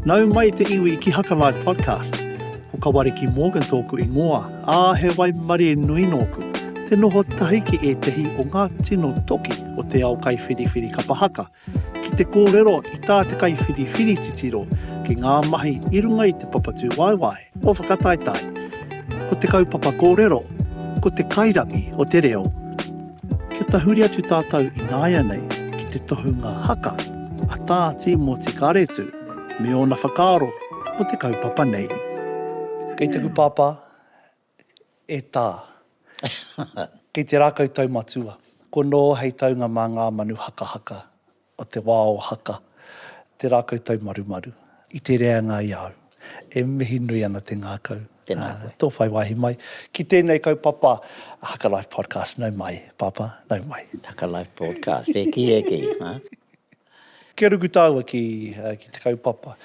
Nau mai te iwi ki Hakalive Podcast. Ko Kawariki Morgan tōku ingoa, ā, he waimarie nui nōku. Te noho tahi ki ētehi o ngā tino toki o te ao kaiwhiriwhiri kapa haka, ki te kōrero i tā te kaiwhiriwhiri titiro ki ngā mahi i runga i te papatūwaewae. Mō Whakataetae, ko te kaupapa kōrero, ko te kairangi o te reo. Kia tahuri atu tātou ināianei ki te tohunga haka a Tā Tīmoti Karetu me ōna whakaaro mō te kaupapa nei. Kei taku pāpā, e Tā. Kei te rākau tau matua. Ko Nō hei taunga mā ngā manu hakahaka. o te wā o Haka, te rākau taumarumaru, i te reanga i a au. E mihi nui ana te ngākau. Tēnā koe. Tō whai wāhi mai. Ki tēnei kaupapa, Haka Life Podcast, nau mai, Pāpā, nau mai. Haka Life Podcast, e kī, e kī, hā? Kia ruku tāua ki te kaupapa.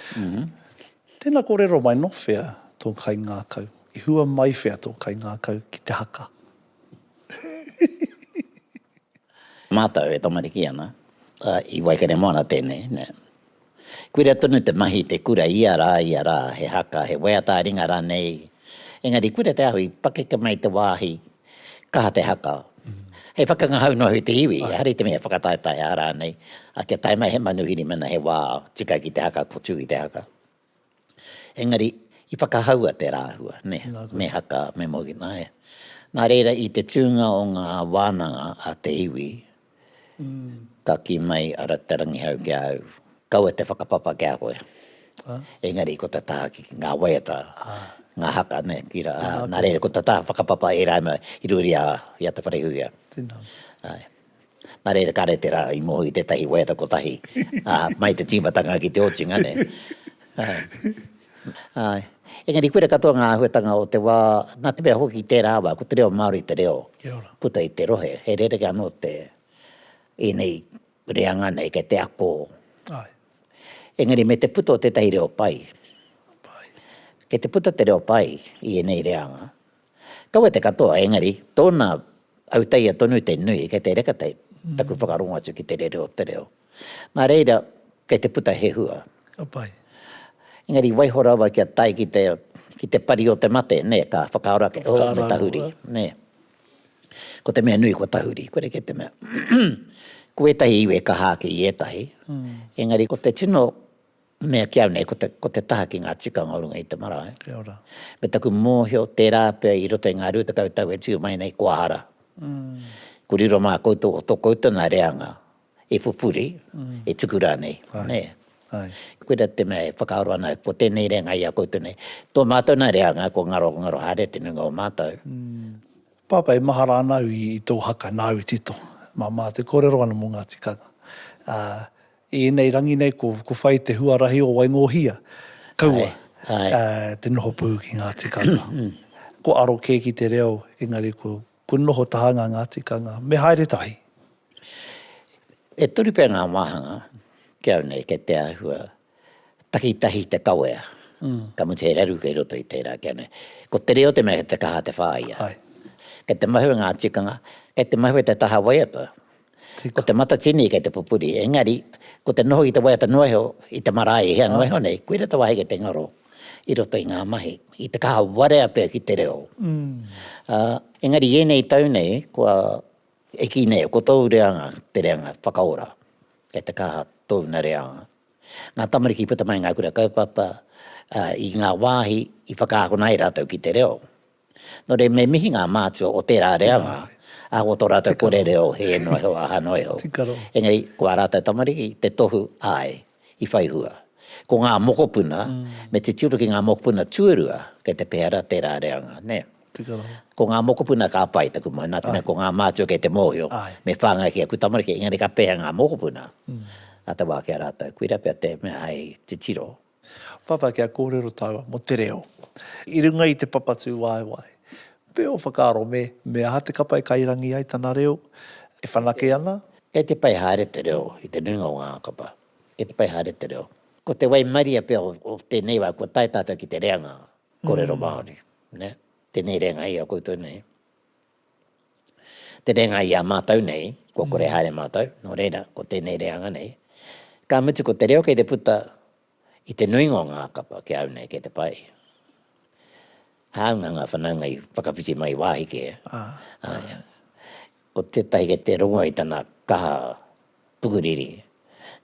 Tēnā kōrero mai, nō whea tō kaingākau? I hua mai whea tō kaingākau ki te haka? Mātou e tamariki ana, i Waikaremoana tēnei, nē. Kuira tonu te mahi i te kura ia rā, ia rā, he haka, he waiata a ringa rānei, engari kura te ahu i pakeke mai te wāhi, kaha te haka. Hei whakangahau noa i te iwi, ehara i te mea whakataetae ā rānei, ā, kia tae mai he manuhiri mēnā he wā tika ki te haka, ko Tū i te haka. Engari, i whakahaua te rāhua, nē, me Haka, me Mogina, ē. Nā reira, i te tūnga o ngā wānanga a te iwi, ka kī mai a Te Rangihau ki a au, Kaua te whakapapa ki a koe. Engari, ko te taha ki ngā waiata, ngā haka, nē, ki rā, ā, nā reira, ko te taha whakapapa i rāua i ruri i a Te Wharehuia. Tēnā koe. Āe. Nā reira, kāre tērā i moho i tētahi waiata kotahi, ā, mai te tīmatanga ki te otinga, nē? Āe. Engari, koira katoa ngā āhuatanga o te wā, nā te mea hoki tērā wā, ko te reo Māori te reo puta i te rohe, he rerekē anō te, ēnei reanga nei, kei te ako. Engari, me te puta o tētahi reo pai, kei te puta te reo pai i ēnei reanga. Kaua te katoa, engari, tōna autaia tonu te nui, kei te reka te, taku whakarongo atu ki te rere o te reo. Nā reira, kei te puta he hua. Ka pai. Engari waiho rawa kia tae ki te, ki te pari o te mate, nē, ka whakaaro ake, Ka whakaaro oh, me tahuri, rawa. nē. Ko te mea nui ko tahuri, kore kē te mea, ko ētahi iwi e kaha ake i ētahi, engari ko te tino, Mea ki au nei, ko te, ko te taha ki ngā tikanga o runga i te marae. Kia ora. Me taku mōhio, tērā pea i roto i ngā rua tekau tau e tiu mai nei, kua hara. Ko riro mā koutou o tō koutou nā reanga e pupuri, e tuku rānei, nē. Koira te mea e whakaaro ana, ko tēnei reanga i a koutou nei. Tō mātou nā reanga, ko ngaro, ngaro haere te nuinga o mātou. Pāpā, e mahara ana au i tō haka, nāu i tito. Māmā, te kōrero ana mō ngā tikanga. I ēnei rangi nei ko whai te huarahi o Waingōhia, kaua te noho pū ki ngā tikanga. Kua aro kē ki te reo, engari kua noho tahanga ngā tikanga. Me haere tahi. E toru pea ngā wāhanga ki au nei kei te āhua takitahi te kawea, ka mutu he raru kei roto i tērā ki au nei. Ko te reo te mea kei te kaha te whāia. Kei te mahue ngā tikanga, kei te mahue te taha waiata. Ko te matatini kei te pupuri, engari, ko te noho i te waiata noaeho, i te marae i hea noaeho nei, koira te wāheke te ngaro i roto i ngā mahi, i te kaha warea pea ki te reo. Ā, engari i ēnei tau nei, kua eki nei, ko tōu reanga te reanga whakaora, kei te kaha tōna reanga. Ngā tamariki i puta mai i ngā kura kaupapa, ā, i ngā wāhi i whakaakona ai rātou ki te reo. Nō reira, me mihi ngā mātua o tērā reanga, ā, ko tō rātou kore reo he ēno iho, ahano iho. Engari, ko ā rātou tamariki, te tohu, āe, i whai hua. Ko ngā mokopuna, me titiro ki ngā mokopuna tuarua, kei te pehe rā tērā reanga, nē. Ko ngā mokopuna ka pai, taku moe, nā te mea ko ngā mātua kei te mōhio, me whāngai ki aku tamariki, engari ka pehe ngā mokopuna, ā te wā ki a rātou, koira pea te mea hei titiro. Papa kia kōrero tāua mō te reo. I runga i te papatū waewae. Me ō whakaaro me, me aha te kapa e kairangi ai tana reo, e whanake ana? Kei te pai haere te reo i te nuinga o ngā kapa. Kei te pai haere te reo. Ko te waimaria pea o tēnei wā, kua tae tātou ki te reanga kōrero Māori. Tēnei reanga i a koutou nei. te reanga i a mātou nei, kua kore haere mātou, nō reira, ko tēnei reanga nei, ka mutu ko te reo kei te puta i te nuinga o ngā kapa ki a au nei kei te pai. Hāunga ngā whanaunga i whakawhiti mai wāhi kē, ā, ko tētahi kei te rongo i tana kaha, pukuriri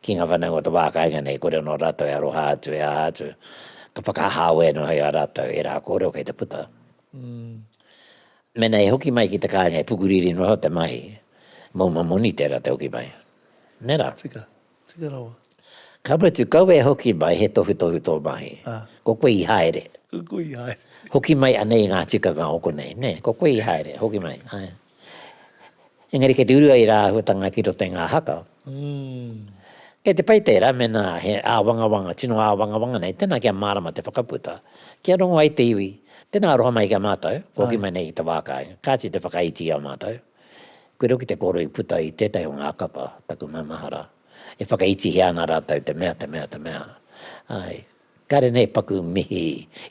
ki ngā whānau o te wā kāinga nei, kore anō rātou e aroha atu, e aha atu, ka whakahāwē anō hei a rātou ērā kōrero kei te puta. Mēnā e hoki mai ki te kāinga e pukuriri noa te mahi, mō mua moni tērā te hoki mai. Nē rā? Tika, tika rawa. Ka mutu, kaua e hoki mai he tohutohu tō mahi. Ko koe i haere. Ko koe i haere. Hoki mai anei i ngā tikanga o konei, nē? Ko koe i haere, hoki mai, āe. Engari kei te uru ai rā āhuatanga ki roto i ngā haka. Kei te pai tērā mēnā he āwangawanga, tino āwangawanga nei, tēnā kia mārama te whakaputa, kia rongo ai te iwi, tēnā aroha mai ki a mātou, kua hoki mai nei i te wā kai, kāti te whakaiti i a mātou. Koe rau ki te kōrero i puta i tētahi o ngā kapa, taku maumahara, e whakaitihia ana rātou te mea, te mea, te mea. Āe. Kāre nei paku mihi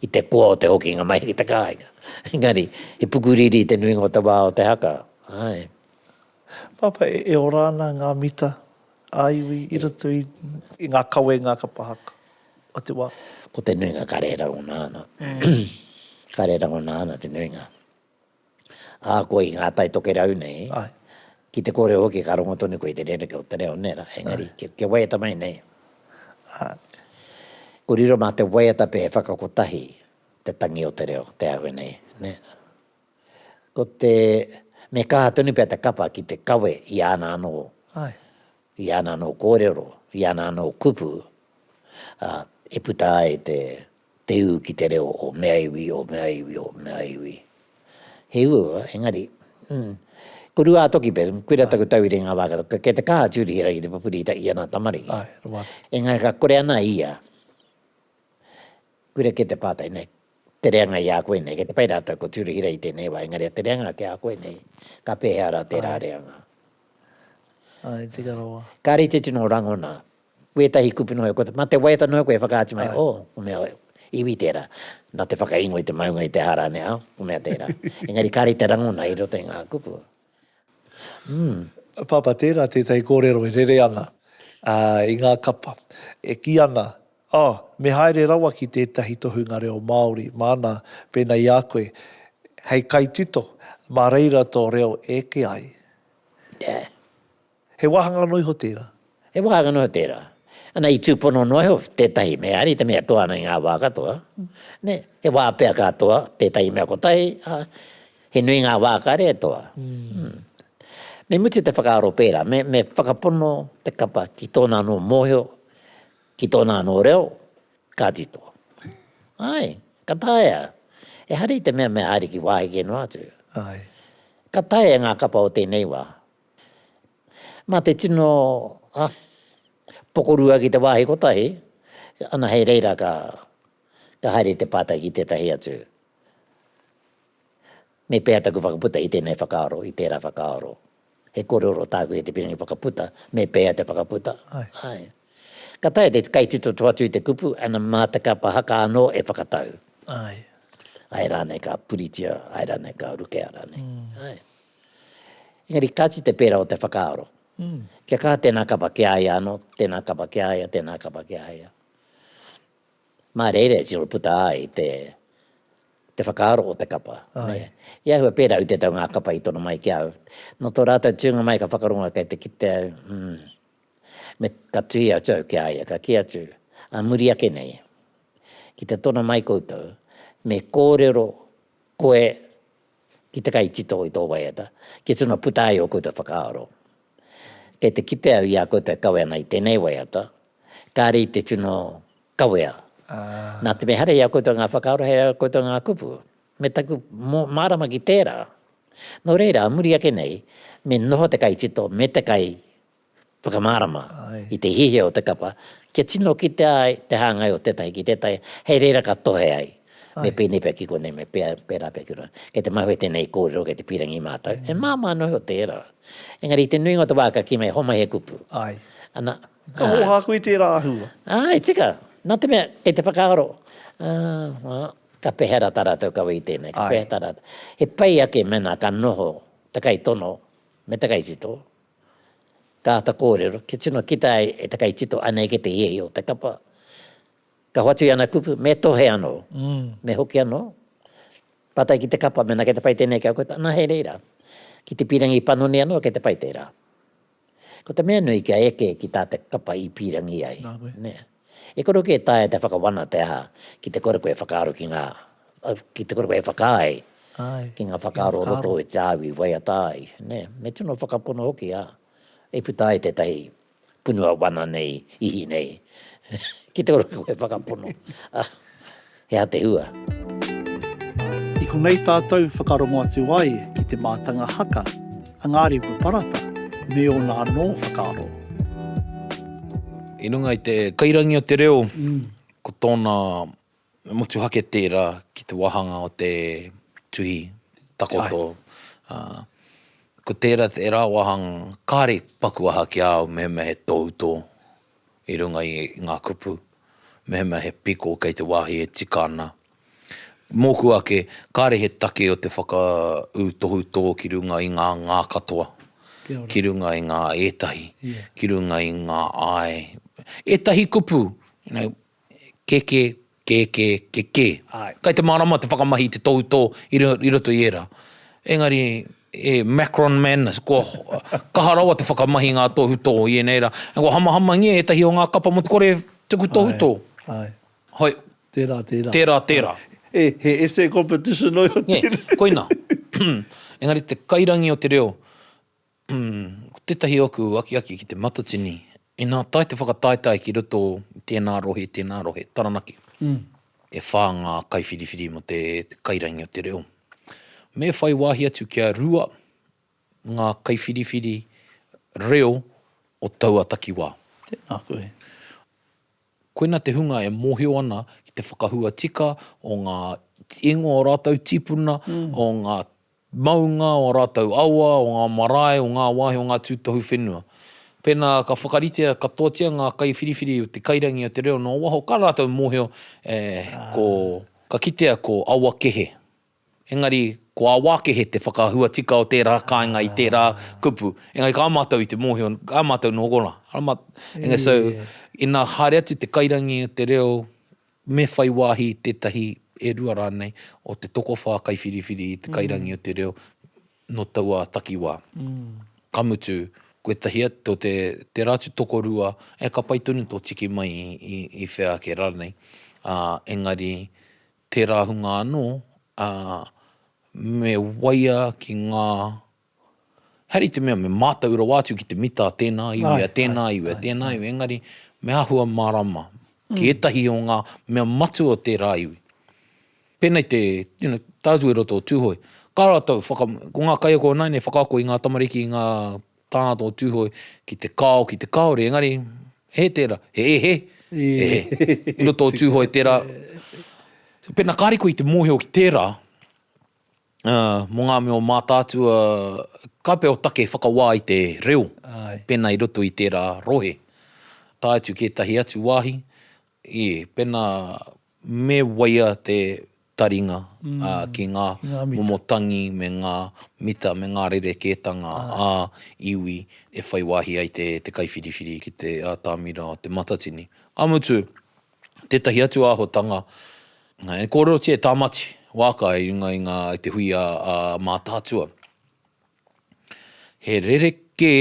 i te koa o te hokinga mai ki te kāinga. Engari, he pukuriri te nuinga o te wā o te haka. Āe. Pāpā, e ora ana ngā mita ā-iwi i roto i ngā kawenga kapa haka o te wā? Ko te nuinga, kāre e rangona ana. Kāre e rangona ana te nuinga. ā, koe i ngā tai tokerau nei, ki te kōrero hoki ka rongo tonu koe i te rerekē o te reo, nē rā, engari, kia waiata mai nei, ā, kua riro mā te waiata pea he whakakotahi te tangi o te reo, te āhua nei, nē. Ko te, me kaha tonu pea te kapa ki te kawe i āna anō, i āna anō kōrero, i āna anō kupu, ā, e puta ai te Te ū ki te reo o mea iwi, o mea iwi, o mea iwi. He ū, engari, mm, ko Ruātoki pea, koira taku tau i reira i ngā wā katoa, kei te kaha atu rihira ki te pupuri i taʻia nā tamariki. Ae, rawa atu. Engari ka kore ana ia, koira kei te pātai nei, te reanga i a koe nei, kei te pai rātou ko Tūruhira i tēnei wā, engari a te reanga ki a koe nei, ka pēhea rā tērā reanga? Ae, teka rawa. Kāre i te tino rangona wētahi kupu noa iho, mā te waiata noa iho koe e whakaatu mai, oh, ko mea iwi tērā, nā te whakaingo i te maunga i te aha rānei, oh, ko mea tērā. Engari kāre i te rangona i roto i ngā kupu. Mm. Pāpā, tērā tētahi kōrero e rere ana i ngā kapa, e kī ana, oh, me haere rawa ki tētahi tohunga reo Māori māna pēnā i a koe hei kaitito, mā reira tō reo e eke ai. Yeah. He wāhanga anō iho tērā? He wāhanga anō tērā. Ana, i tūpono noa iho tētahi mea, ari te mea toa ana i ngā wā katoa. Nē, he wā pea ka toa tētahi mea kotahi, ā, he nui ngā wā kāre e toa. Me mutu te whakaaro pērā, me, me whakapono te kapa ki tōna anō mōhio, ki tōna anō reo, ka tito. Āe, ka taea. Ehara i te mea me Ariki wāheke noa atu. Āe. Ka taea e ngā kapa o tēnei wā, Mā te tino pokorua ki te wāhi kotahi, ana hei reira ka haere te pātai ki tētahi atu, me pēhea taku whakaputa i tēnei whakaaro, i tērā whakaaro? He kōrero tāku e te Piringi Whakaputa, me pēhea te whakaputa? Āe. Ka taea te kaititoto atu i te kupu, ana mā te kapa haka anō e whakatau. Āe. Āe rānei ka puritia, āe rānei ka rukea rānei. Āe. Engari kāti te pērā o te whakaaro. Kia kaha tēnā kapa ki a ia anō, tēnā kapa ki a ia, tēnā kapa ki a ia. Mā reira e tino puta ai te te whakaaro o te kapa. I ahua pērā i te tau ngā kapa i tono mai ki au. Nō tō rātou tūnga mai ka whakarongo kei te kite au, mm, me ka tuhi atu au ki a ia, ka kī atu, ā muri ake nei, ki te tono mai koutou, me kōrero koe ki te kaitito i tō waiata, kia tino puta ai ō koutou whakaaro. Kei te kitea i a koutou e kawe ana i tēnei waiata, kāre i te tino kawea. Nā te mea haere i a koutou ngā whakaaro, haere i a koutou ngā kupu. Me taku mārama ki tērā, nō reira, muri ake nei, me noho te kaitito me te kai whakamārama i te hiahia o te kapa kia tino kitea ai te hāngai o tētahi ki tētahi, hei reira ka tohe ai, me pēnei pea ki konei, me pērā pea ki konei. Kei te mahue tēnei kōrero, kei te pīrangi mātou, e māmā noa iho te ērā. Engari i te nuinga o te wā ka kī mai, homai he kupu. Ana. Ka hōhā koe i tērā āhua? Āe, tika. Nā te mea, kei te whakaaro, ā, ka pēhea rā tā rātou kawe i tēnei, ka pēhea tā rātou. He pai ake mēnā ka noho te kaitono me te kaitito. Ka āta kōrero, kia tino kita ai e te kaitito anei kē te hiahia o te kapa. Ka hoatu i ana kupu, me tohe anō, me hoki anō, pātai ki te kapa mēnā kei te pai tēnei ki a koe, anā hei reira, ki te pīrangi panoni anō kei te pai tērā. Ko te mea nui kia eke ki tā te kapa i pīrangi ai. E kore hoki e taea te whakawana te aha, ki te kore koe e whakaaro ki ngā, ki te kore koe e whakaae ki ngā whakaaro o roto i te au i waiata ai, nē. Me tino whakapono hoki, ā, i puta ai tētahi punua wana nei, ihi nei, ki te kore koe e whakapono. He aha te hua? I konei tātou whakarongo atu ai ki te mātanga haka a Ngāri Upaparata me ōna anō whakaaro. I runga i te kairangi o te reo, ko tōna motuhake tērā ki te wāhanga o te tuhi takoto. Ko tērā tērā wāhanga kāre paku aha ki a au mehemea he tohutō. i runga i ngā kupu, mehemea he piko kei te wāhi e tika ana. Mōku ake, kāre he take o te whakaū tohutō ki runga i ngā ngā katoa, ki runga i ngā ētahi, ki runga i ngā āe. Ētahi kupu, you know, keke, Kē, kē, kē, kē. Āe. Kei te mārama te whakamahi i te tohutō i ro, i roto i ērā. Engari, e Macron madness, kua kaha rawa te whakamahi i ngā tohutō i ēnei rā. Ā, kua hamahamangia ētahi o ngā kapa mō te kore tuku tohutō. Āe, āe. Hoi. Tērā, tērā. Tērā, tērā. E, he essay competition ō tēnei. Nē, koinā. Engari te kairangi o te reo, Ko tētahi oku akiaki ki te matatini, inā tae te whakataetae ki roto i tēnā rohe, tēnā rohe, Taranaki, e whā ngā kaiwhiriwhiri mō te kairangi o te reo. Me whai wāhi atu kia rua ngā kaiwhiriwhiri reo o taua takiwā. Tēnā koe. Koina te hunga e mōhio ana ki te whakahua tika o ngā ingoa o rātou tīpuna, o ngā maunga, o ā rātou awa, o ngā marae, o ngā wāhi, o ngā tūtohu whenua. Pēnā ka whakaritea katoatia ngā kaiwhiriwhiri o te kairangi o te reo noa waho, ka rātou mōhio ko, ka kitea ko Awakehe. Engari, ko Awākehe te whakahua tika o tērā kāinga i tērā kupu. Engari kā mātou i te mōhio, kā mātou nō konā. And so, inā haere atu te kairangi o te reo Me whai wāhi i tētahi, e rua rānei, o te tokowhā kaiwhiriwhiri i te kairangi o te reo nō taua takiwā. Ka mutu, kotahi atu te ratu tokorua, e ka pai tonu tō tiki mai i whea ake rānei, ā, engari tērā hunga anō, ā, me waia ki ngā. Hari te mea me mātau rawa atu ki te mita tēnā iwi a tēnā iwi a tēnā iwi, engari me āhua mārama ki ētahi o ngā mea matua o tērā iwi. Pēnei te, you know, tātou i roto o Tūhoe, kā rātou, ko ngā kaiako ināianei i whakaako i ngā tamariki, i ngā tāngata o Tūhoe ki te kao, ki te kāore, engari he hē tērā, he e hē, e hē, i roto o Tūhoe tērā. Pēnā kāre koe i te mōhio ki tērā, mō ngā mea o Mātaatua, ka pea o take whakawā i te reo pēnā i roto i tērā rohe, tae atu ki ētahi atu wāhi, ē, pēnā me waia te taringa ki ngā momo tangi me ngā mita me ngā rerekētanga ā iwi e whai wāhi ai te kaiwhiriwhiri ki te atamira o Te Matatini. Ka mutu, tētahi atu āhuatanga, e kōrerotia e Tāmati wāka i runga i ngā, i te hui a Mātaatua. He rerekē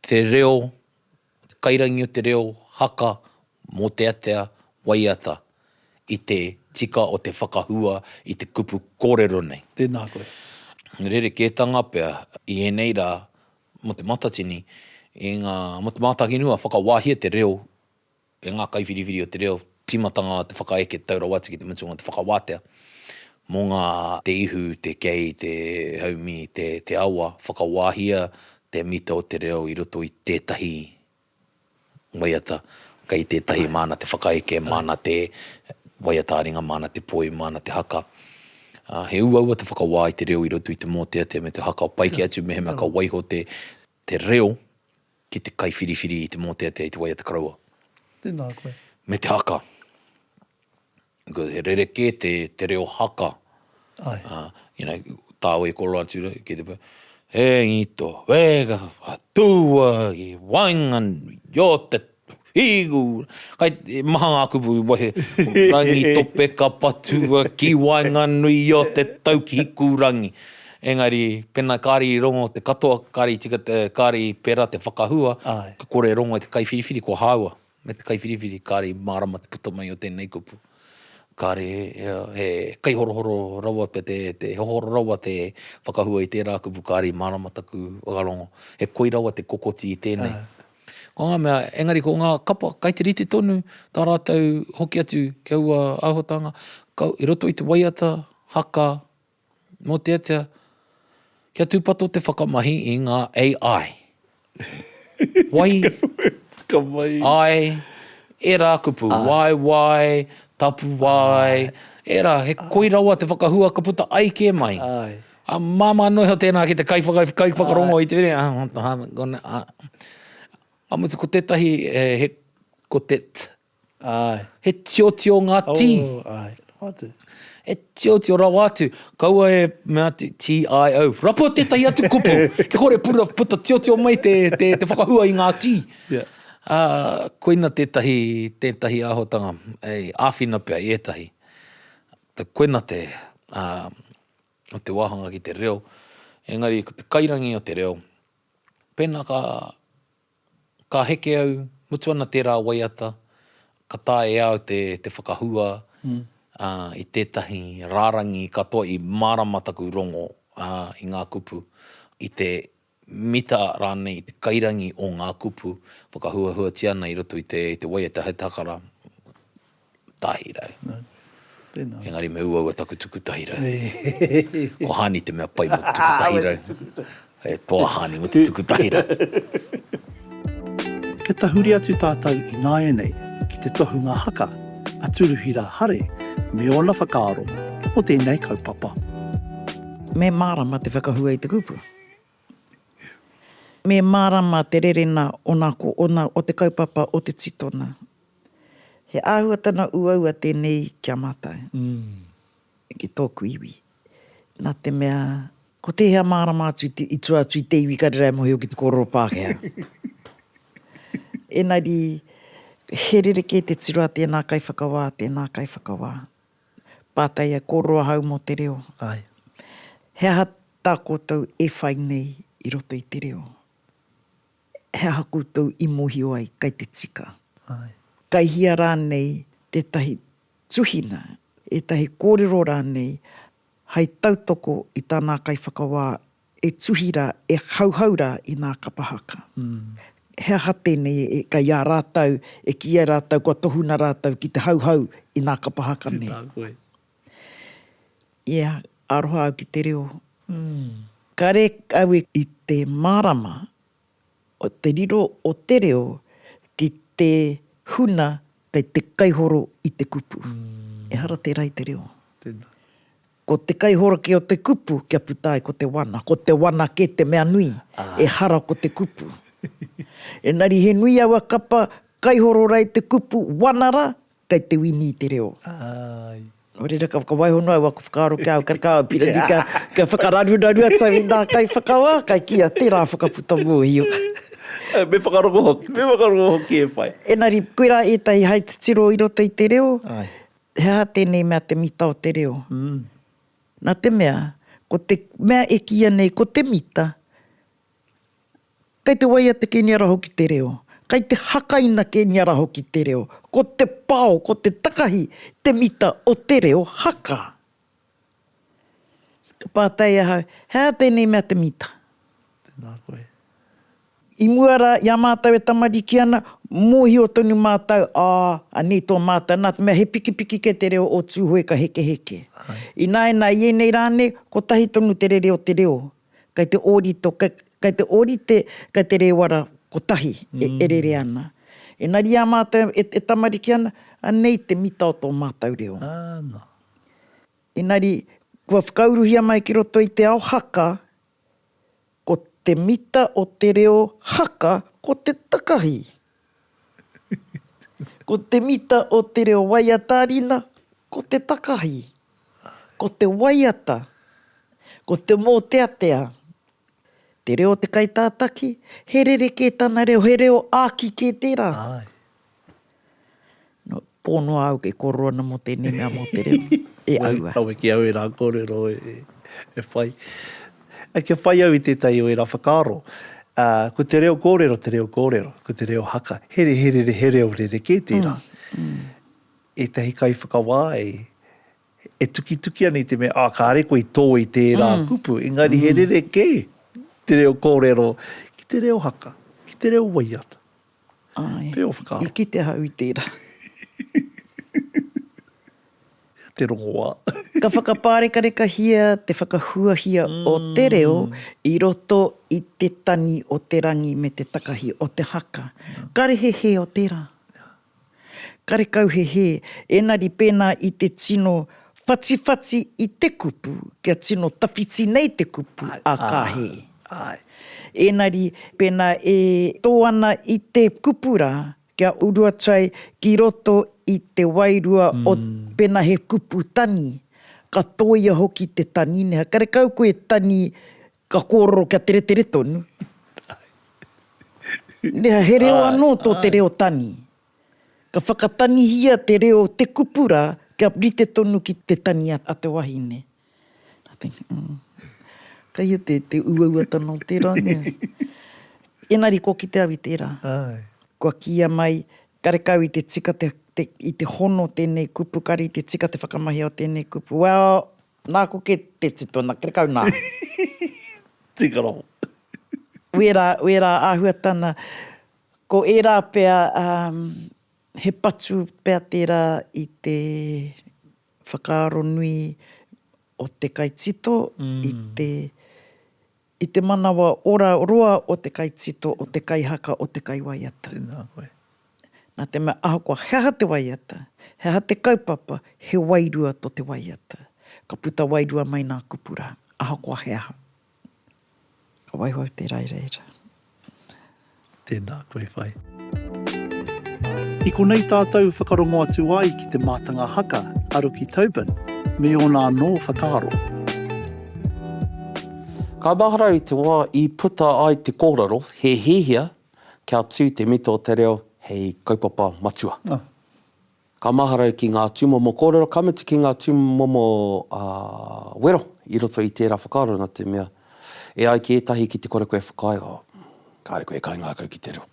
te reo, te kairangi o te reo haka mōteatea waiata i te tika o te whakahua i te kupu kōrero nei. Tēnā koe. Rerekētanga pea i ēnei rā mō Te Matatini, i ngā, mō Te Mātāwhirua, whakawāhia te reo. e ngā kaiwhiriwhiri o te reo tīmatanga o te whakaeke tau rawa atu ki te mutunga o te whakawātea mō ngā te ihu, te kei, te haumi, te te awa, whakawāhia te mita o te reo i roto i tētahi waiata kei tētahi māna te whakaeke, māna te waiata ā-ringa, māna te poi, māna te haka. He uaua te whakawā i te reo i roto i te mōteatea me te haka o Paikea atu mehemea ka waiho te reo Ki te kaiwhiriwhiri i te mōteatea i te wai a te karaua. Tēnā koe. Me te haka. Because he rerekē te, te reo haka. Ai. Uh, you know, tāua i koro atu rei, ki te pē, e ngito, wēga, whatua, i wainganui, i o te, Higu! Kai, maha ngā kupu i wahi, Rangitope ka patua ki waenganui i o te tau ki Hikurangi. Engari, pena kāre i rongo te katoa, kāre i tika te, kāre i pērā te whakahua, ka kore e rongo e te kaiwhiriwhiri kua hāua, me te kaiwhiriwhiri kāre i mārama te puta mai o tēnei kupu. Kāre he kaihorohoro rawa pea te, he hohoro rawa te whakahua i tērā kupu kāre i mārama taku whakarongo. He koi rawa te kokoti i tēnei. Ko ngā mea, engari ko ngā kapa kai te rite tonu tā rātou hoki atu ki aua āhuatanga, ka, i roto i te waiata, haka, mōteatea, kia tūpato te whakamahi i ngā AI. Wai, ai, ērā kupu, waewae, tapuwae, ērā, he koi rawa te whakahua ka puta ai kē mai. A Māmā Noiho tēnā ki te kaiwhakarongo i te wire. Ka mutu ko tētahi he ko te t. He tiotio ngā tī. He tiotio rawa atu. Kaua e mea atu TIO. Rapua tētahi atu kupu. Kia kore puta tiotio mai te whakahua i ngā tī. Koina tētahi tētahi āhuatanga. Āwhina pea i ētahi. Koina te. o te wāhanga ki te reo, engari ko te kairangi o te reo, pēnā ka, ka heke au, mutu ana tērā waiata, ka taea e au te, te whakahua ā, i tētahi rārangi katoa i mārama taku rongo ā, i ngā kupu, i te mita rānei i te kairangi o ngā kupu whakahuahuatia ana i roto i te waiata he takara tahi rau. Engari me uaua taku tuku tahi rau. Ko Hāni te mea pai mō te tuku tahi rau. He toa Hāni mō te tuku tahi rau. Kia tahuri atu tātou ināianei ki te tohunga haka a Turuhira Hare me ōna whakaaro mō tēnei kaupapa. Me mārama te whakahua i te kupu. Me mārama te rerena ona ko ona o te kaupapa o te titona. He āhuatana uaua tēnei ki a mātou, ki tōku iwi, nā te mea, ko tēhea mārama atu i tua atu i te iwi ka rerai mōhio ki te kōrero Pākehā. Ēngari, he rerekē te tiro a tēnā kaiwhakawā, tēnā kaiwhakawā. Pātai a Kōrero ahau mō te reo, āe. He aha tā koutou e whai nei i roto i te reo? He aha koutou i mōhio ai kai te tika? Āe. Kai hea rānei tētahi tuhina, ētahi kōrero rānei hai tautoko i tā nā kaiwhakawā E tuhi ra, e hauhau ra i na kapa haka. He aha tenei, kai a ratau e ki ai ratau kua tohu na ratau ki te hauhau i na kapa haka nei? Ia, aroha au ki te reo. Kare au e. I te marama o te riro o te reo ki te huna kei te kaihoro i te kupu. Ehara tera i te reo. Tena. Ko te kaihoraki o te kupu kia puta ai ko te wana. Ko te wana kē te mea nui, ehara ko te kupu. Engari he nui aua kapa, kaihoro rā i te kupu, wana rā, kei te wini i te reo. Nō reira ka whakawaiho noa au aku whakaaro ki a au, ka kaha au pīrangi kia whakararuraru atu au i ngā kaiwhakawā, kai kīia tērā whakaputa mōhio. Me whakarongo hoki, me whakarongo hoki e whai. Engari koirā ētahi hai titiro i roto i te reo. He aha tēnei mea te mita o te reo? Nā te mea, ko te mea e kīia nei ko te mita, kei te waia te kēniara hoki te reo, kei te hakaina kēniara hoki te reo, ko te pao, ko te takahi te mita o te reo haka. Ka pātai ahau, He aha tēnei mea te mita? Tēnā koe. I mua rā, i a mātou e tamariki ana, mōhio tonu mātou, ā, anei tō mātou, nā te mea he pikipiki kē te reo o Tūhoe ka hekeheke. Ināianā, i ēnei rā nei, kotahi tonu te rere o te reo, kei te ōrito, kei te ōrite, kei te rēwara kotahi e rere ana. Engari i a mātou e tamariki ana, anei te mita o tō mātou reo. Āna. Engari, kua whakauruhia mai ki roto i te ao haka, ko te mita o te reo haka ko te takahi. Ko te mita o te reo waiata rina ko te takahi. Ko te waiata, ko te mōteatea. Te reo o te kaitātaki, he rerekē tana reo, he reo āki kē tērā. No, pō noa au ke kōrero ana mō tēnei mea mō te reo, e aua. Kawe ki au ērā kōrero e whai. Kia whai au i tētahi o ērā whakaaro, ko te reo kōrero, te reo kōrero, ko te reo haka, he reo rerekē tērā. Ētahi kaiwhakawā e tukituki ana i te mea, kāre koe i tō i tērā kupu, engari he rerekē te reo kōrero ki te reo haka, ki te reo waiata, Ai. Te o whakaaro. I kite ahau i tērā. Te rongoā. Ka whakapārekareka-hia te whakahuahia o te reo i roto i te tangi o te rangi me te takahi o te haka. Karehe hē o tērā. Karekau he hē, ēnari pēnā i te tino whatiwhati i te kupu, kia tino tawhiti nei te kupu, a ka hē. Āe. Ēnari, pēnā e tō ana i te kupu rā, kia uru atu ai ki roto i te wairua o, pēnā he kupu tani, ka tōia hoki te tani, neha, karekau koe tani Ka kōrero kia teretere tonu. Nea, he reo anō tō te reo tani. Ka whakatanihia te reo o te kupu rā kia rite tonu ki te tani a te wahine. Nā te, kai ia te uauatanga o tērā, nē? Engari kua kite au i tērā. Kua kīia mai, karekau i te tika te, i te hono tēnei kupu, kare i te tika te whakamahia o tēnei kupu. Well. Nā ko ke te tito na ke kau nā. Tika noho. Wērā, wērā āhuatana. Ko ērā pea, um, he patu pea tērā i te whakaaro nui o te kaitito i te, I te manawa ora roa o te kaitito, o te kaihaka, o te kaiwaiata. Tēnā koe. Nā te mea ahakoa he aha te waiata, he aha te kaupapa, he wairua tō te waiata. Ka puta wairua mai nā kupu rā, ahakoa he aha. Ka waiho au tērā i reira. Tēnā koe whai. I konei tātou whakarongo atu ai ki te mātanga haka a Ruki Tobin me ōna anō whakaaro. Ka mahara i te wā i puta ai te kōrero he hiahia kia tū te mita o te reo hei kaupapa matua. Ka mahara ki ngā tūmomo kōrero, ka mutu ki ngā tūmomo wero i roto i tērā whakaaro, nā te mea, e ai ki ētahi ki te kore koe e whakaae, oh, kāre koe e kaingākau ki te reo.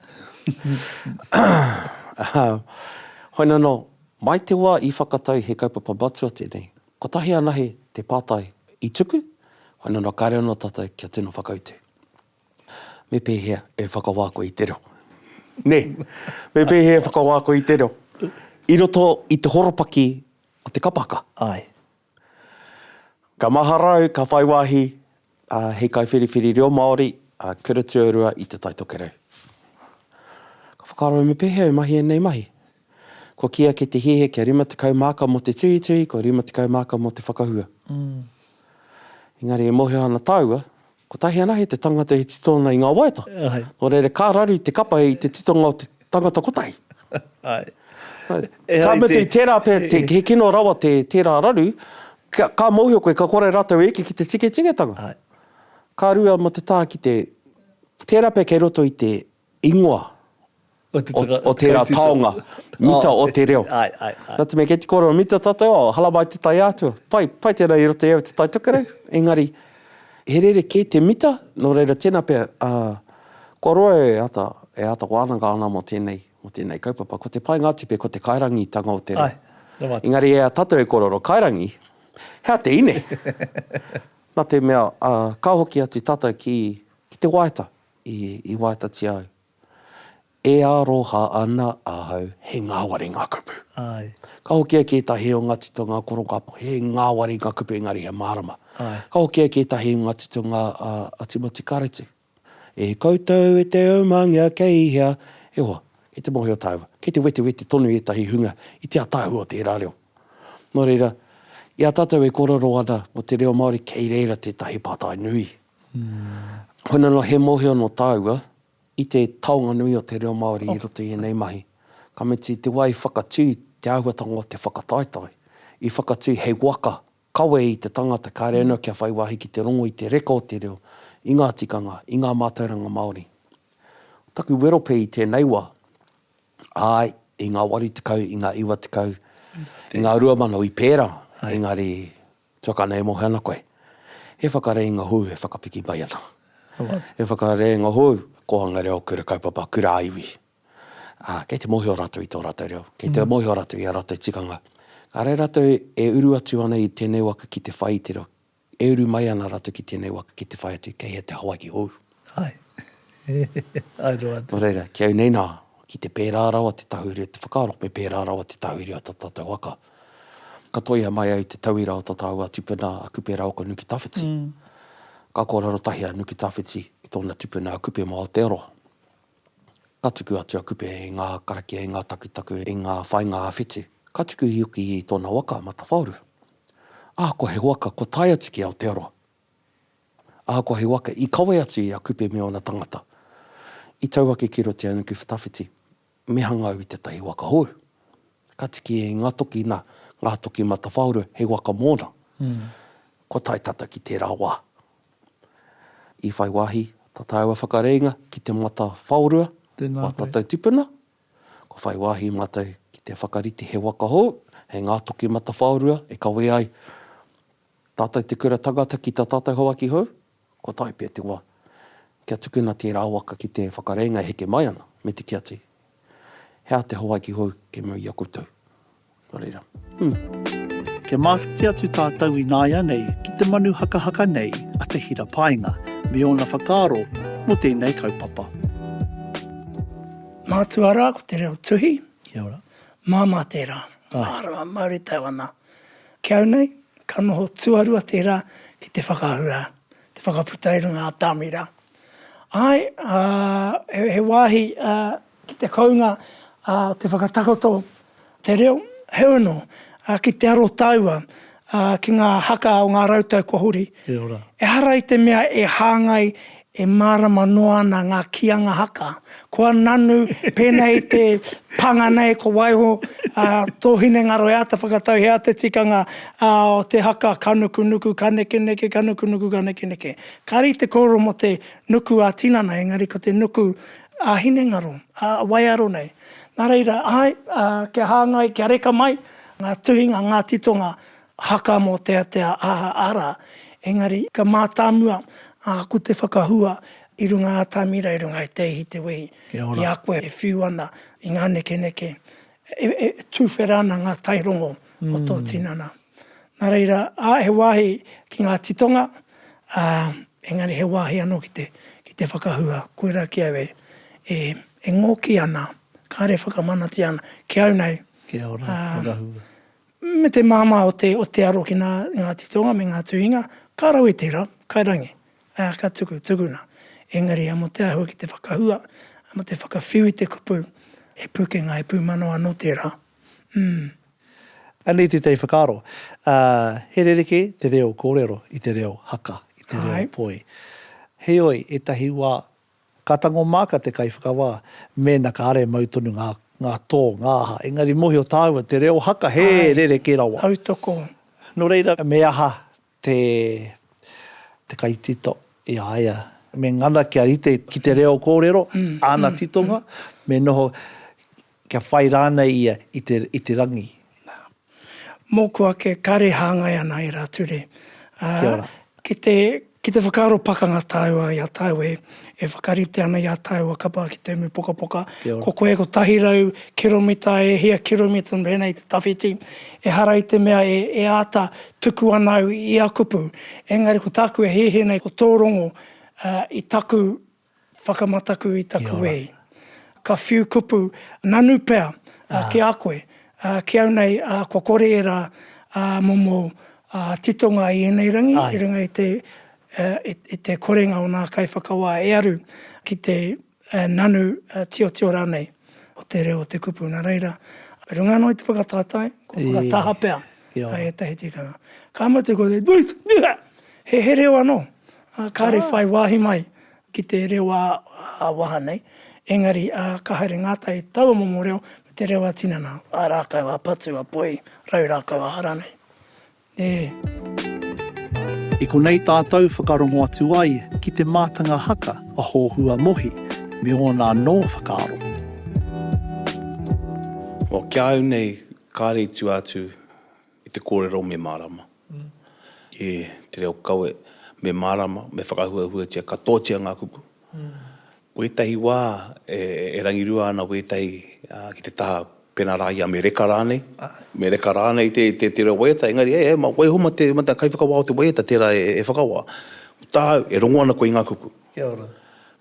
Hoina nō, mai te wā i whakatau he kaupapa matua tēnei, kotahi anahe te pātai i tuku, hoina nō kāre anō tātou kia tino whakautu. me pēhea e whakawā koe i te reo? Nē, me pēhea e whakawā koe i te reo? I roto i te horopaki o te kapaka. Āe. Ka mahara au, ka whai wāhi hei kaiwhiriwhiri reo Māori, kura tuarua i Te Tai Tokerau. Ka whakaaro au me pēhea e mahi ēnei mahi? Kua kī ake te hīhe kia 50 māka mō te tuhituhi, kua 50 māka mō te whakahua. Engari e mōhio ana tāua, Kotahi anahe te tangata e tito ana i nga waeata, no reira ka raru i te kapa i te titonga o te tangata kotahi. Ka mutu, tera pea, he kino rawa tera raru, ka mohio koe, ka kore ratou e eke ki te tiketike tanga. Ka rua ma te taha ki te, tera pea kei roto i te ingoa o tērā taonga, mita o te reo. Nā te mea, kei te kōrero mita tātou, oh, halamai te tai āhatu, pai, pai tēnā i roto i au te tai tokerau, engari, he rerekē te mita, nō reira, tēnā pea, kua roa e āta, e āta wānanga ana mō tēnei, mō tēnei kaupapa, ko te painga atu pea ko te kairangitanga o te reo. Engari e a tātou e kōrero kairangi, he aha te ine? Nā te mea, ka hoki atu tātou ki, ki te wāheta. I, i wātatia au. E aroha ana ahau, he ngāwari ngā kupu. Āe. Ka hoki au ki ētahi o ngā titonga korokāpo, he ngāwari ngā kupu engari he mārama. Āe. Ka hoki au ki ētahi o ngā titonga a, a Timoti Karetu. E koutou e te umangia kei hea, e hoa, kei te mōhio tāua, kei te wetewete tonu ētahi hunga i te ataahua o tērā reo. Nō reira, i a tātou e kōrero ana mō te reo Māori, kei reira tētahi pātai nui. Hoina noa he mohio no taua i te taonga nui o te reo Maori i roto i enei mahi. Ka mutu i te wa i whakatu te ahuatanga o te whakataetae, i whakatu hei waka kawe i te tangata kare ano kia whai wahi ki te rongo i te reka o te reo, i nga tikanga, i nga matauranga Maori. Taku wero pe i tenei wa, ae, i nga waru tekau, i nga iwa tekau, i nga rua mano i pera, engari Tuaka nei e mohe ana koe. He whakareinga hou e whakapiki mai ana. He whakareinga hou, Kōhanga Reo Kura Kaupapa Kura Iwi. Ā, kei te mōhio rātou i tō rātou reo, kei te mōhio rātou i ā rātou tikanga. Ka reira rātou e uru atu ana i tēnei waka ki te whai i te reo, e uru mai ana rātou ki tēnei waka ki te whai atu kei hea te Hawaiki hou. Hai. Hai roa atu. Nō reira, ki au nei nā, ki te pērā rawa te tahuri o te whakaaro, me pērā rawa te tahuri o tō tātou waka. Ka toia mai ai te tauira o tō tāua tupuna a Kupe Raoko Nuki Tawhiti. Ka kōrero tahi a Nuki Tawhiti ki tōna tupuna a Kupe mō Aotearoa. Ka tuku atu a Kupe i ngā karakia, i ngā takutaku, i ngā whāinga ā-whitu. Ka tuku hoki i tōna waka a Matawhaoru. Ahakoa he waka kua tae atu ki Aotearoa, Ahakoa he waka, i kawe atu i a Kupe me ōna tangata. I tau ake ki roto i a Nukuwhatawhiti, me hanga au i tētahi waka hou. Ka tiki e Ingatoki, nā, Ngātoki Matawhaoro, hei waka mōna. Kua tae tātou ki tērā wā. I whai wāhi tā tāua whakareinga ki te Matawhaorua, wā tātou tipuna. Kua whai wāhi mātou ki te whakarite he waka hou, hei Ngātoki Matawhaorua, e kawē ai. Tātou te kura tangata ki tā tātou Hawaiki hou, kua tae pea te wā kia tukuna tērā waka ki te whakarēnga e heke mai ana, me te kia te, He aha te Hawaiki hou kei mua i a koutou? Nō reira, hum! Kia mawhiti atu tātou ināianei ki te manu hakahaka nei a Te Hira Paenga me ōna whakaaro mō tēnei kaupapa. Mātua rā ko te reo tuhi. Kia ora. Māmā tērā. Āe. Mārama, mauritau ana. Ki au nei, ka noho tuarua tērā ki te whakaahu rā, te whakaputa i runga atāmi rā. Āe, ā, he wāhi ki te kounga o te whakatakoto te reo, heoi anō, ki te aro taua ki ngā haka o ngā rautau kua huri, E ora. Ehara i te mea e hāngai, e mārama noa ana ngā kīanga haka. Kua nanu, pēnā i te pānga nei ko waiho, ā, tō hinengaro e āta whakatau he aha te tikanga, ā, o te haka, ka nukunuku, ka nekeneke, ka nukunuku, ka nekeneke. Kāre i te kōrero mō te nuku ā-tinana, engari ko te nuku ā-hinengaro, ā, waiaro nei. Nā reira, āe, ā, kia hāngai, kia reka mai ngā tuhinga, ngā titonga, Haka mōteatea aha ara, engari ka mātāmua āku te whakahua i runga atamira i runga i te ihi te wehi i a koe e whiu ana i ngā nekeneke e tuwhera ana ngā tairongo o tō tinana. Nā reira, he wāhi ki ngā titonga, ā, engari he wāhi anō ki te whakahua, koirā ki au e ngōki ana, kāre e whakamanatia ana, ki au nei, ā, Me te māmā o te, o te aro ki nā, ngā titonga me ngā tuhinga, ka rawe tērā, kai rangi, ā, ka tuku, tukuna. Engari a mō te āhua ki te whakahua, a mō te whakawhiu i te kupu, he pūkenga, he pūmanawa anō tērā. Umm. Anei tētahi whakaaro, ā, he rerekē te reo kōrero i te reo haka, i te reo poi. Heoi, ētahi wā, Ka tango māka te kaiwhakawā mēna ka are mau tonu ngā, ngā tō, ngā aha, engari mōhio tāua te reo haka he rerekē rawa. Āe, tautoko. Nō reira, me aha te, te kaitito i a ia? Me ngana kia rite ki te reo kōrero, āna titonga, me noho, Kia whai rānei ia i te, i te rangi. Nā. Mōku ake, kāre e hāngai ana e rā ture. Ā, Kia ora. ki te, ki te whakaaro pakanga tāua i a tāu e, e whakarite ana i ā tāua kapa ki te umupokapoka. Kia ora. Ko koe kotahi rau kiromita e hia kiromita nō rēnei te tawhiti. Ehara i te mea e, e āta tuku ana au i a kupu. Engari ko tāku e hēhē nei ko tō rongo, ā, i taku Whakamataku i taku wehi. Ka whiu kupu nanu pea ki a koe, ki au nei, kua kore ērā momo titonga i ēnei rangi i runga i te korenga o nā kaiwhakawā e aru ki te nanu tiotio rānei o te reo o te kupu. Nā reira, runga noa i te whakataetae, kua whakataha pea ētahi tikanga. Ka mutu ko te, he reo anō. Ā, kāre whai wāhi mai ki te reo ā-waha nei, engari, ā, ka haere ngātai taua momo reo me te reo ā-tinana, ā rākau ā-patu, ā-poi, rau rākau ā-hara nei. Ē. I konei tātou whakarongo atu ai ki te mātanga haka a Hōhua Mohi me ōna anō whakaaro. Well, ki a au nei, kāre i tua atu. I te kōrero me mārama. I te reo kawe me mārama, me whakahuahuatia katoatia ngā kupu. Wētahi wā e rangirua ana wētahi ki te taha pēnā rā i a Mereka rānei, Mereka rānei te reo waiata, engari hei hei waiho mā te kaiwhakawā o te waiata tērā e whakawā. Ko tāu, e rongo ana koe i ngā kupu. Kia ora.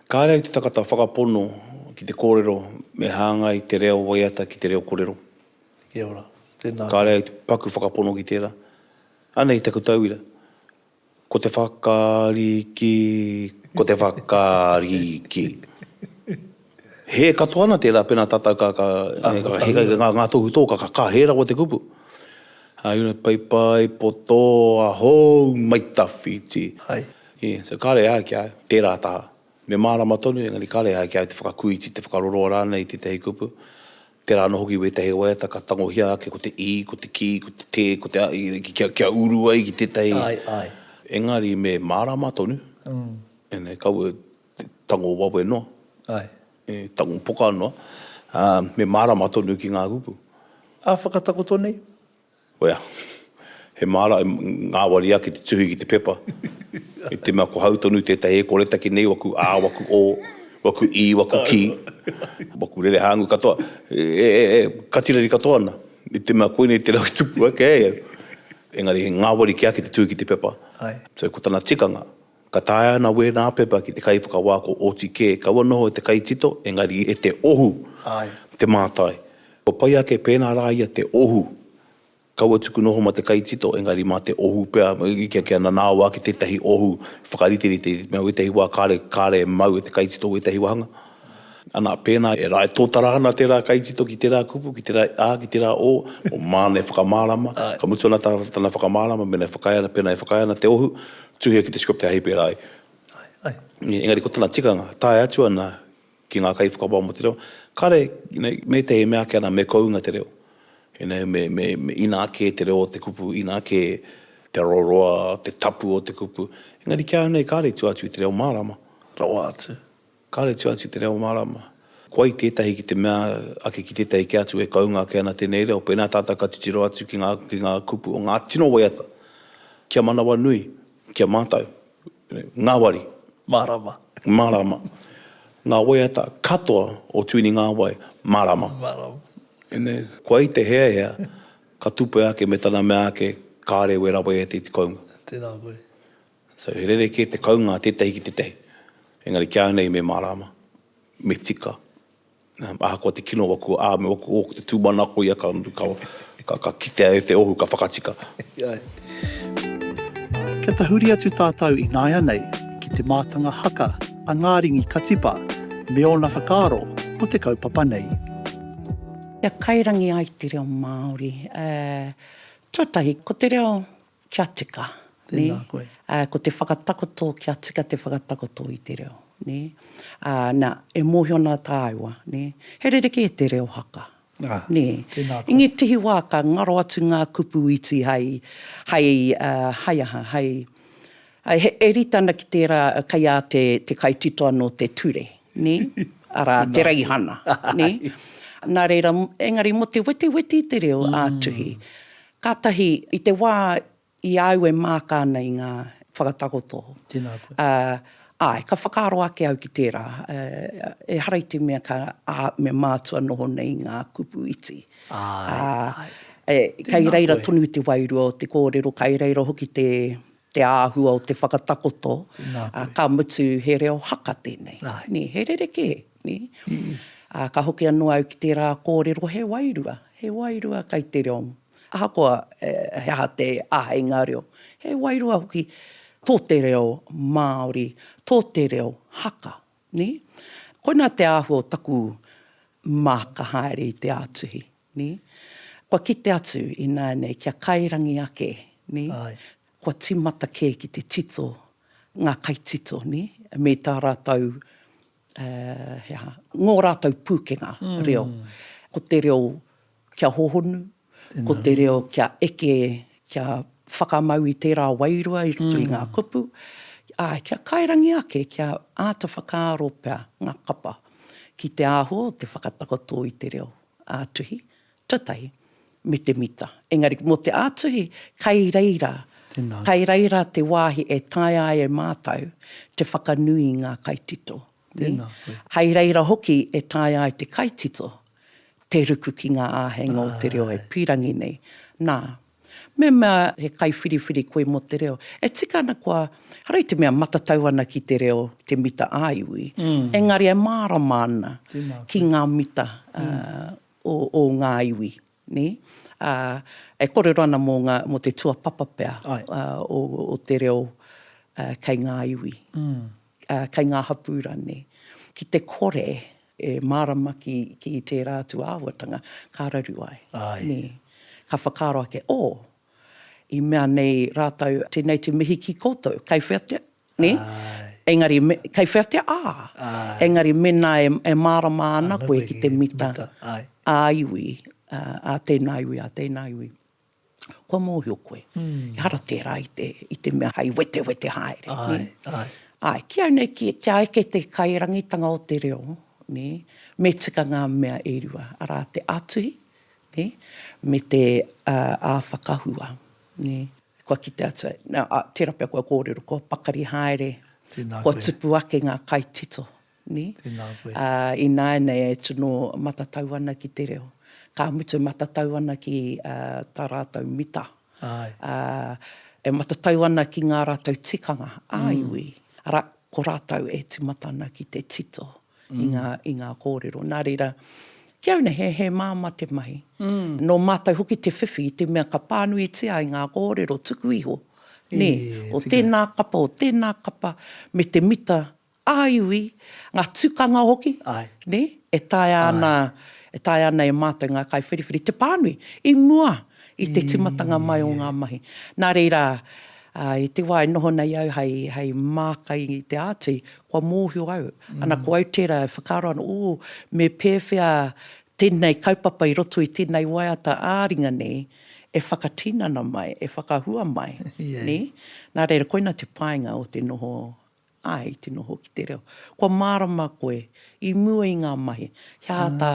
Kāre au te tangata whakapono ki te kōrero me hāngai te reo waiata ki te reo korero. Kia ora. Tēnā koe. Kāre au te paku whakapono ki tērā. Anei taku tauira. Ko te whakariki, ko te whakariki. Hē katoa ana tērā pēnā tātou ka, ka, ka, ngā tohu tō, ka, ka hē rawa te kupu. Ā, you know, paipai, poto, ahou, maitawhiti. Hai. Yeah, so kāre au ki a au, tērā taha. Me mārama tonu, engari kāre ai ki a au te whakakuiti, te whakaroaroa rānei i tētahi kupu, tērā anō hoki i wētahi waiata ka tangohia ake ko te i, ko te ki, ko te te, ko te a, kia uru ai ki tētahi. Āe, āe. Engari me mārama tonu, ēnei kaua e tango wawe noa. Āe. E tango poka noa, ā, me mārama tonu ki ngā kupu. Ā whakatakoto nei, Oea, he māra e ngāwari ake te tuhi ki te pepa. I te mea ko hau tonu tētahi e koretake nei waku ā, waku ō, waku i, waku ki, waku rere hāngu katoa, e, e, e, katireri katoa ana, i te mea koinei te rau i tupu ake ai au. Engari he ngāwari kē ake te tuhi ki te pepa. So ko tana tikanga. Ka taea ana wēnā pepa ki te kaiwhakawā ko oti kē kaua noho e te kaitito engari e te ohu te mātai. Kua pai ake pēnā rā ia te ohu kaua tuku noho mā te kaitito engari mā te ohu pea kia nanao ake tētahi ohu whakariterite i te mea wētahi wā kāre kāre e mau e te kaitito wētahi wāhanga ana pēnā e rae tōtara ana tērā kaitito ki tērā kupu ki tērā ā ki tērā ō o māna e whakamārama ka mutu ana tana whakamārama mēnā e whakaae ana pēnā e whakaae ana te ohu Tuhia ki te script hei pērā ai. Engari ko tana tikanga, tae atu ana ki ngā kaiwhakawā mō te reo, kāre, me te he mea ake ana me kounga te reo. Inā kē te reo o te kupu, inā kē te roroa, te tapu o te kupu. Engari ki ahau nei kāre i tua atu i te reo mārama. Rawa atu. Kāre tua atu te reo mārama. Kua i tētahi ki te mea ake ki tētahi kē atu e kounga ake ana tēnei reo, pēnā tātou ka titiro atu ki ngā, ki ngā kupu o ngā tino waiata, kia manawanui, ki a mātou, ngāwari. Mārama. Mārama. Ngā waiata katoa o Tuini Ngāwai, mārama. Mārama. Ine, kua i te heahea, ka tupea ake me tana mea ake, kāre wera waiata i te kounga. Tēnā koe. So he rerekē te kounga tētahi ki tētahi. Engari kia nei me mārāma, me tika. Ahakoa te kino waku ā, me waku ō, ko te tūmanako ia ka, ka, ka kitea e te ohu, ka whakatika. Kia tahuri atu tātou ināianei ki te mātanga haka a Ngāringi Katipa me ōna whakaaro mō te kaupapa nei. Kia kairangi ai te reo Māori, ā, tuatahi, ko te reo kia tika, nē. Tēnā koe. Ā, ko te whakatakoto, kia tika te whakatakoto i te reo, nē. Ā, nā, e mōhio ana tāua, nē, he rerekē te reo haka, nē. Ā, tēnā koe. I ngētehi wā ka ngaro atu ngā kupu iti hai, hai, hai aha, hai, e rite ana ki tērā kei a te, te kaitito anō te ture, nē, arā, te raihana, nē. Nā reira, engari mō te wetiweti i te reo ā-tuhi, Kātahi, i te wā i a au e māka ana i ngā whakatakoto, āe, ka whakaaro ake au ki tērā, ehara i te mea ka, ā, me mātua noho nei i ngā kupu iti. Āe, āe. Kei reira tonu te wairua o te kōrero, kei reira hoki te te āhua o te whakatakoto, ka mutu he reo haka tēnei, he rerekē. Ka hoki anō au ki tērā kōrero he wairua, he wairua kei te reo. Ahakoa he aha te āheinga reo, he wairua hoki tō te reo Māori, tō te reo haka. Koinā te āhua o taku māka haere i te ātuhi. Nē? Kua kite atu ināianei kia kairangi ake, nē? Āe. Kua tīmata kē ki te tito, ngā kaitito, nē? Me tā rātou, he aha, ngō rātou pūkenga reo. Ko te reo kia hohonu, ko te reo kia eke, kia whakamau i tērā wairua i roto i ngā kupu, āe, kia kairangi ake, kia āta whakaaro pea ngā kapa ki te āhua o te whakatakoto i te reo. ā-tuhi, tuatahi, me te mita. Engari, mō te ā-tuhi, kei reira, kei reira te wāhi e taea ai e mātou te whakanui i ngā kaitito. Hei reira hoki e taea ai te kaitito te ruku ki ngā āheinga o te reo e pīrangi nei. Nā, Me mea he kaiwhiriwhiri koe mō te reo, e tika ana kua, hara i te mea matatau ana ki te reo te mita ā-iwi, engari e mārama ana ki ngā mita o ngā iwi, nē? Ā, e kōrero ana mō ngā, mō te tuapapa pea o te reo kei ngā iwi. kei ngā hapū rane, ki te kore e mārama ki, ki tērā atu āhuatanga ka raru ai. Nē. Ka whakaaro ake, oh, i mea nei rātou, tēnei te mihi ki koutou, kei whea te, nē? Engari, me, kei whea te, ah, engari mēnā e, e mārama ana koe ki te mita ā-iwi, ā tēnā iwi, ā tēnā iwi. kua mōhio koe, ehara tērā i te, i te mea hei wetewete haere. Āe, āe. Āe, ki au nei, kia eke te kairangitanga o te reo, nē, me tika ngā mea e rua, arā, te ātuhi, nē, me te ā-whakahua, nē. Kua kite atu au, nā, tērā pea kua kōrero, kua pakari haere, kua tupu ake ngā kaitito. Ni? Tēnā koe. Ā, ināianei e tino matatau ana ki te reo. Ka mutu e matatau ana ki tā rātou mita. Āe. Ā, e matatau ana ki ngā rātou tikanga ā-iwi, arā, ko rātou e tīmata ana ki te tito i ngā, i ngā kōrero. Nā reira, ki au nei, he, he māmā te mahi. Nō mātou hoki te whiwhi i te mea ka pānuitia ai ngā kōrero tuku iho, nē, o tēnā kapa, o tēnā kapa, me te mita Ā-iwi, ngā tukanga hoki, nē, e taea ana, e taea ana e mātou ngā kaiwhiriwhiri te pānui i mua i te tīmatanga mai o ngā mahi. Nā reira, i te wā e noho nei au hei, hei māka i te āti, kua mōhio au, ana ko au tērā e whakaaro ana, ū, me pēwhea tēnei kaupapa i roto i tēnei waiata ā-ringa nei e whakatinana mai, e whakahua mai, nē? Nā reira, koina te painga o te noho Āe, i te noho ki te reo. Kua mārama koe, i mua i ngā mahi, he aha tā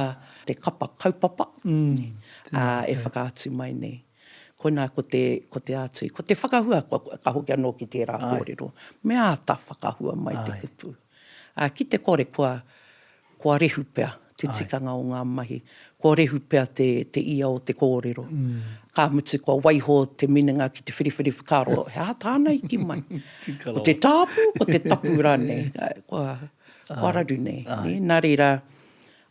te kapa kaupapa e whakaatu mai nei? Koinā ko te, ko te ātui, ko te whakahua, ka hoki anō ki tērā kōrero, me āta whakahua mai te kupu. Ā, ki te kore kua, Kua rehu pea te tikanga o ngā mahi, kua rehu pea te te ia o te kōrero. Ka mutu kua waiho te minenga ki te whiriwhiri whakaaro, he aha tāna i ki mai? Ko te tāpu, ko te tapu rānei? Kua, kua raru nei. Nā reira,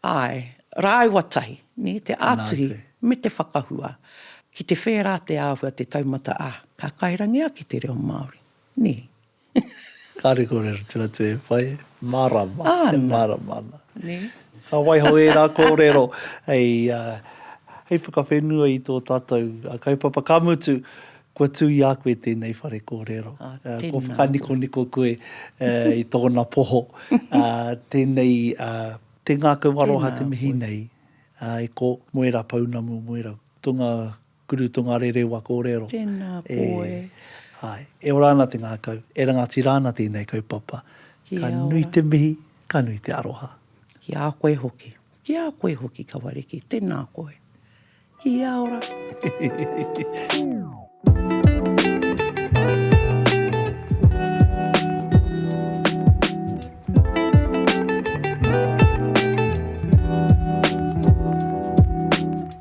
āe, rāua tahi, te ātuhi me te whakahua, ki te whērā te āhua, te taumata, ā, ka kairangi ake te reo Māori. Kāre kōrero tū atu e whai. Mārama. Āna. E mārama ana. Nē. Ka waiho ērā kōrero hei, hei whakawhenua i tō tātou kaupapa. Ka mutu, kua tū i a koe tēnei whare kōrero. Ā, tēnā koe. Kua whakanikoniko koe i tōna poho. Ā, tēnei, tē ngākau aroha te mihi nei. Tēnā koe. Ā, e ko, mo ērā pounamu, mo ērā. Tō ngā Guru Tongarere wa korero. Tena koe. Ae. E ora ana te ngakau. E rangatira ana tenei kaupapa. Ki a ora. Ka nui te mihi, ka nui te aroha. Ki a koe hoki. Ki a koe hoki Kawariki. Tena koe. Ki a ora. Hehehehe.